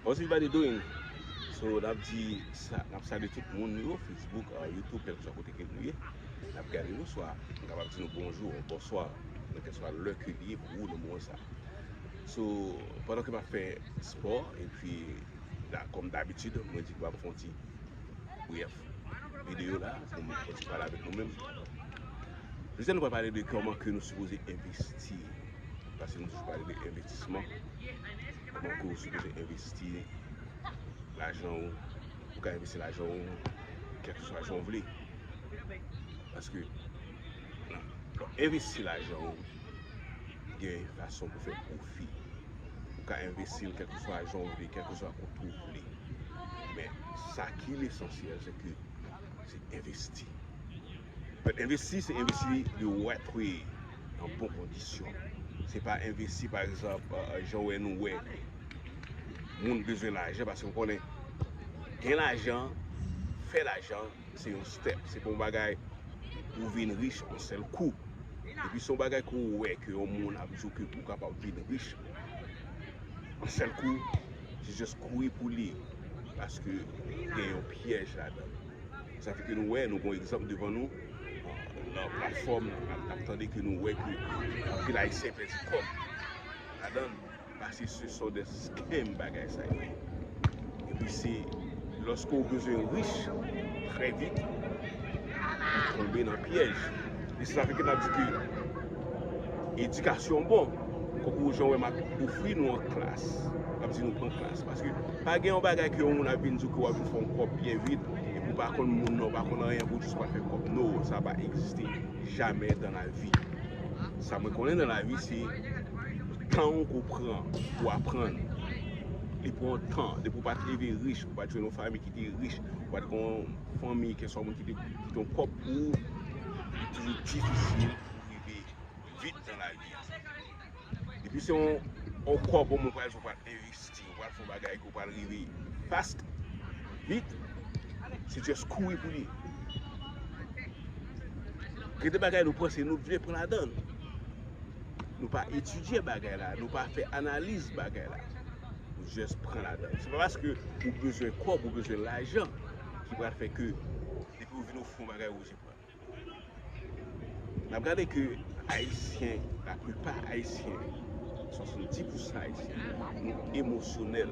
How's everybody doing? So nap di sa nap salye tout moun yo Facebook, YouTube kèlkeswa kote ke nou ye nap gade nou swa nou kapab di nou bonjou or bonswa nan kèlkeswa lè ke li ye pou ou nan moman sa So pandan ke map fè spò epi kòm dabitid mwen di ke map fon ti brèf videyo la pou m fon ti pale avèk nou menm Jodia nou pral pale de kòman ke nou sipoze envesti paske nou toujou pale de envestisman Pou ke ou sipoze envesti lajan ou. Ou ka envesti lajan ou kèlkeswa jan ou vle. Paske lè ou envesti lajan ou, gen fason pou fè pwofi. Ou ka envesti l kèlkeswa jan ou vle, kèlkeswa kote ou vle. Men, sa ki lesansyèl se ke se envesti. But envesti se envesti de ou a twe nan bon kondisyon. Se pa envesti pa egzanp jan ou wè nou wè moun bezwen lajan paske ou konnen gen lajan, fè lajan se yon step. Se pa yon bagay ou vin rich an sèl kou. Epi se yon bagay ke ou wè ke yon moun ap di ou ke ou kapab vin rich an sèl kou, se just kouri pou li paske gen yon pyèj ladan. Sa fè ke nou wè, nou gon egzanp devan nou, nan platfòm, nap tande ke nou wè ke anpil ayisyen pèdi kòb ladann, pase se son de scam bagay sa yo ye. Epi se lòske ou bezwen rich trè vit, ou tonbe nan pyèj. E se sa fè ke nap di ke. Edikasyon bon, konkou ou jan wè map ofri nou an klas, map di nou pran klas, paske pa gen yon bagay ke yon moun ap vin di w ke wap vin fè yon kòb byen vit, epi w pa konn moun nan, w pa konn anyen pou w jis wap fè kòb, no, sa pa egziste jamè dan la vi. Sa mwen konnen dan la vi se tan w ke w pran pou w aprann, li pran w tan, depi w pat leve rich, ou pat jwenn yon fanmi ki te rich, ou pat gen yon fanmi keswa moun ki te gen yon kòb pou ou, li toujou difisil. pou w rive vit nan lavi a. Depi se yon kòb ou pral fè, ou pral envesti, ou pral fè yon bagay ke w pral rive fast, vit, se just kouri pou li. Gen de bagay nou panse nou vle pran ladan. Nou pa etidye bagay la, nou pa fè analiz bagay la. Nou just pran ladan. Se pa paske ou bezwen kòb, ou bezwen lajan, ki pral fè ke depi ou vin ou fè yon bagay ou oblije pran. Nap gade ke ayisyen, la plipa ayisyen, 70 pousan ayisyen, nou emosyonèl.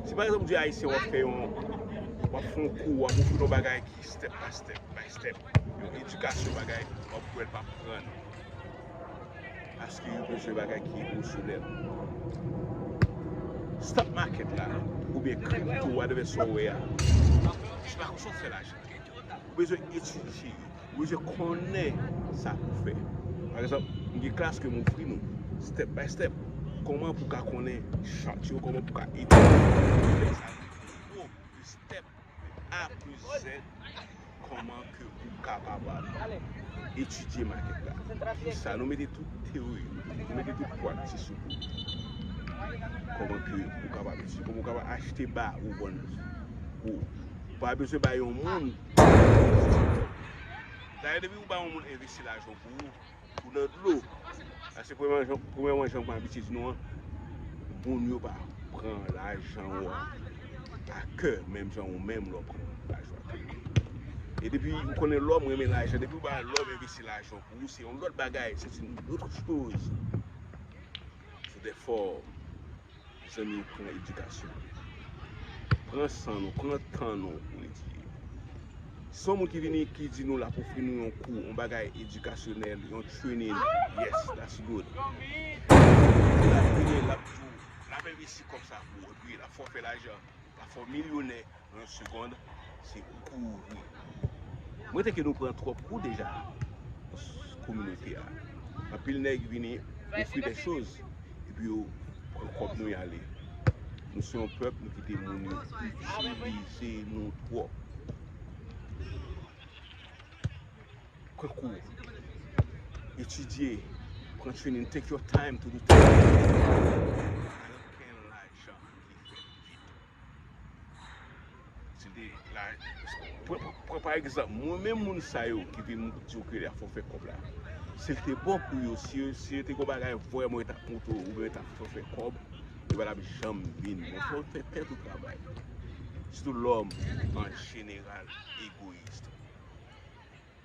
Si pa egzanp ou di ayisyen wap fè yon, wap fè yon kou, wap ofri l yon bagay ki step pa step, by step, yon edikasyon bagay, wap wè l pa pran li. Paske yo bezwen bagay ki emosyonèl. Stock market la, oubyen crypto, whatever sa w wè a, se pa konsa w fè lajan. Ou bezwen etidye yo. Ou bezwen konnen sa pou w fè. Pa egzanp, m gen klas ke m ofri nou, step by step, kòman pou w ka konnen chart yo, kòman pou w ka etidye chart sa yo, nivo de step de A plis Z, kòman ke ou kapab etidye market la. Pou sa, nou mete tout teori yo, nou mete tout practice yo pou ou. Kòman ke ou kapab etidye, kòman ou kapab achte ba ou vann ou. Ou pa bezwen bay yon moun Dayè depi ou bay yon moun envesti lajan pou ou Ou nan dlo Paske premyèman jan mwen abitye di nou an Moun yo pa pran lajan ou an a kè menm jan ou menm lè w pran lajan ou an a kè E depi ou konnen lè w renmen lajan depi ou bay lè w envesti lajan pou ou se yon lòt bagay se se yon lòt choz Sou de fòm Mezanmi nou pran edikasyon nou nou pran san nou pran tan nou pou nou etidye san moun ki vini ki di nou lap ofri nou yon kou yon bagay edikasyonèl yon trening yes that's good epi lap vini lap di w lap envesti kòb sa pou ou epi lap fè w fè lajan lap fè w milyonè 1 segond se kouri. M rete ke nou pran twòp kou deja nan kominote a. Anpil nèg vini ofri dè choz epi yo pran kòb nou y ale. Nou se yon pèp nou kite moun yo itilize nou twòp. Pran kou. Etidye. Pran trening. Take your time to do things. Anpil lajan ki fèt vit. Pran pa egzanp, mwen menm moun sa yo ki vin di yo ke la fò fè kòb la. Si l te bon pou yo, si yo te gen yon bagay vrèman yo t ap montre ou oubyen yo t ap fè w fè kòb, yo pa t ap janm vin. Men fò w fè tèt ou travay. Sitou lòm an jeneral egoyis.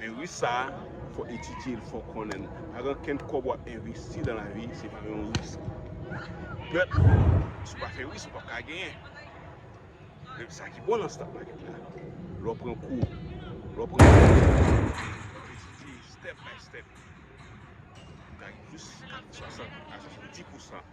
Men ris sa a fò etidye l, fò konnen l. Pa gen ankenn kòb w ap envesti nan lavi se pa yon ris. Pèp, si w pa fè ris ou p ap ka genyen. Men sa ki bon nan stock market la, lè w pran kou, lè w pran kòb, lè w etidye step by step, ou ka rive jis 60 a 70 pousan.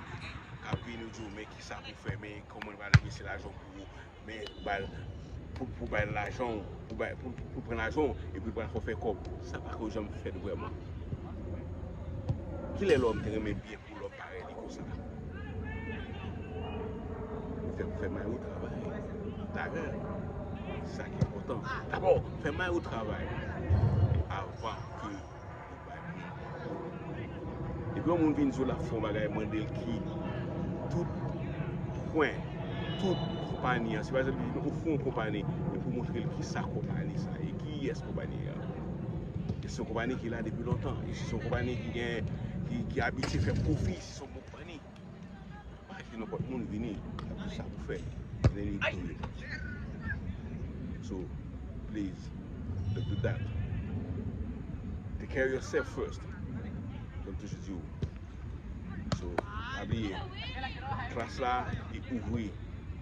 Apre nou di w men ki sa pou fè, men kòman nou pral fè mesye lajan w pou ou, men pou ba l, pou l ba l lajan w, pou ba, pou l pran lajan w, epi l pral fè w fè kòb. Sa pa ko janm fèt vrèman. Ki lè lòm te renmen byen pou lòm parèy li konsa? Ou fè, fè may ou travay. Lajan, se sa ki enpòtan. Dabò, fè may ou travay avan ke. Depi yon moun vin di w lap fè yon bagay mande l ki tout pwen, tout konpani an. Si pa egzanp li ofri yon konpani e pou w montre l ki sa konpani sa ye, ki yès konpani an. E se yon konpani ki la depi lontan, e se yon konpani ki gen, ki abitye fè pwofi, se yon bon konpani. Pa kite nenpòt moun vini ap di sa pou fè vini li tou ye so please don't do that take care yourself first janm toujou di ou so pa bliye klas la li ouvri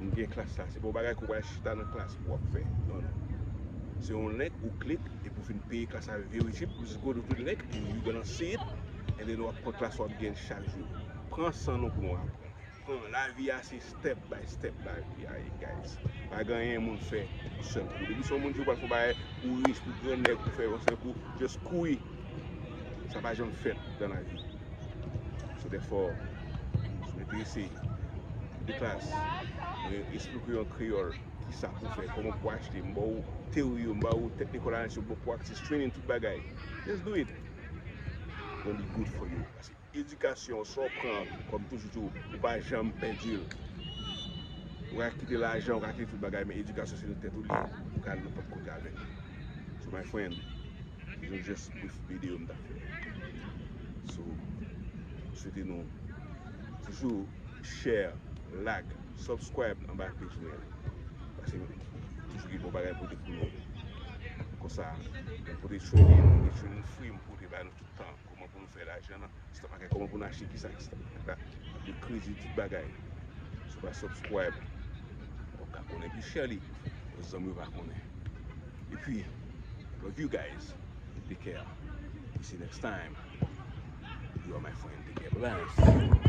nou gen klas la se pa yon bagay ke ou pral chita nan klas pou wap fè non non se yon link ou klik epi ou fin peye klas la very cheap just go to the link and you gonna see it Ebyen nou ap pran klas wap gen chak jou. Pran san nou pou nou aprann. Pran lavi a se step by step lavi a ye guys. Pa gen anyen moun fè yon sèl kou. Depi se yon moun di ou pral fè yon bagay ou rich ou gran nèg ou fè yon sèl kou just kouri. Sa pa janm fèt dan lavi. Se de fò sou mwen te eseye. Mwen te klas. Mwen esplike yo an kreyòl kisa pou fè. Koman pou achte. M ba ou teori yo. M ba ou teknik analiz yo. M ba ou practice training tout bagay. Just do it. Bon li good for you. Pase edikasyon sa w pran kòm toujou tou ou pa janm pèdi l. Ou ka kite lajan, ou ka kite tout bagay men edikasyon se nan tèt ou li ye. Ou ka al nenpòt kote avèk li. So my friend, se yon jès brief video m ta fè. So, m swete nou toujou share, like. Subscribe anba page mwen an. Pase m toujou gen bon bagay m pote pou nou. Konsa m pote training, m gen training free m pote ba nou tout tan. Kòman pou nou fè lajan nan stock market, kòman pou nou achte kisa ki stock market la, de kredi tout bagay. Si w pa subscribe, wap ka konnen pi chè li. Pou zanmi w pa konnen. E pi, love you guys. Take care. See you next time. You are my friend. Take care. Bye bye.